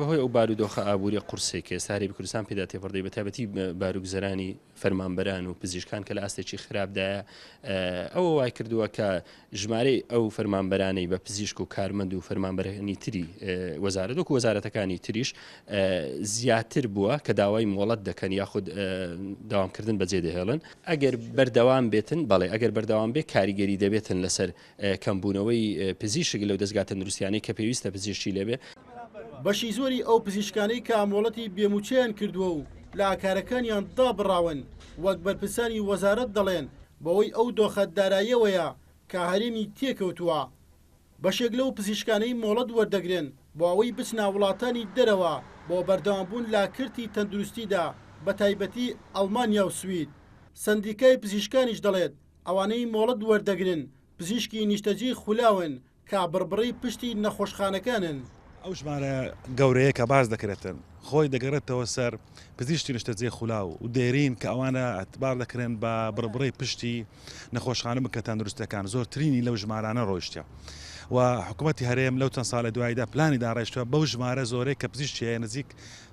بەهۆی ئەو بارودۆخە ئابوورییە قورسەی کە ئێستا هەرێمی کوردستان پێدا تێپەڕدەی بەتایبەتی بارگوزەرانی فەرمانبەران و پزیشکان کە لە ئاستێکی خراپدایە ئەوە وای کردووە کە ژمارەی ئەو فەرمانبەرانەی بە پزیشک و کارمەند و فەرمانبەرهێنی تری وەزارەت وەکو وەزارەتەکانی تریش زیاتر بووە کە داوای مۆڵەت دەکەن یاخود داوامکردن بەجێ دەهێڵن ئەگەر بەردەوام بێتن بەڵێ ئەگەر بەردەوام بێ کاریگەری دەبێتن لەسەر کەمبوونەوەی پزیشک لەو دەزگا تەندروستیانەی کە پێویستە پزیشکی لێبێ. بەشی زۆری ئەو پزیشکانەی کە مۆڵەتی بێ مووچەیان کردووە و لە ئاکارەکانیان دابڕاون، وەک بەرپرسانی وەزارەت دەڵێن، بەوەی ئەو دۆخە داراییەوەیە کە هەرێمی تێکەوتووە. بەشێک لەو پزیشکانەی مۆڵەت وەردەگرن بۆ ئەوەی بچنە وڵاتانی دەرەوە بۆ بەردەوامبوون لە کەرتی تەندروستیدا بەتایبەتی ئەڵمانیا و سوید. سەندیکای پزیشکانیش دەڵێت، ئەوانەی مۆڵەت وەردەگرن پزیشکی نیشتەجێی خولاون کە بڕبڕەی پشتی نەخۆشخانەکانن. ئەو ژمارە گەورەیە کە باس دەکرێتن خۆی دەگەڕێتەوە سەر پزیشکی نیشتەجێی خولاو و دێرین کە ئەوانە ئەتبار دەکرێن بە بڕبڕەی پشتی نەخۆشخانە بکە تەندروستەکان زۆرترینی لەو ژمارانە ڕۆیشتە و حکوومەتی هەرێم لەو چەند ساڵە دواییدا پلانی داڕێشتوە بەو ژمارە زۆرەی کە پزیشتیە نزیک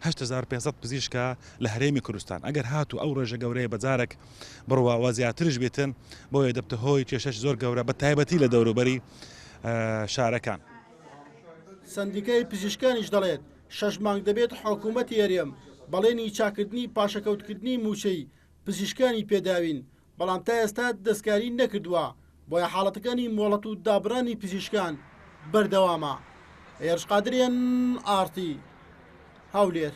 8500 پزیشکە لە هەرێمی کوردستان ئەگەر هاتوو ئەو ڕێژە گەورەیە بەجارەک بڕوا وە زیاترش بیتن بۆیە دەبتە هۆی کێشەش زۆر گەورە بە تایبەتی لە دەوروبەری شارەکان. سەندیکای پزیشکانیش دەڵێت، شەش مانگ دەبێت حکومەتی هەرێم بەڵێنی چاککردنی پاشەکەوتکردنی مووچەی پزیشکانی پێداوین، بەڵام تا ئێستا دەستکاری نەکردووە، بۆیە حاڵەتەکانی مۆڵەت و دابڕانی پزیشکان بەردەوامە. هێرش قادریان، ئاڕتی هەولێر.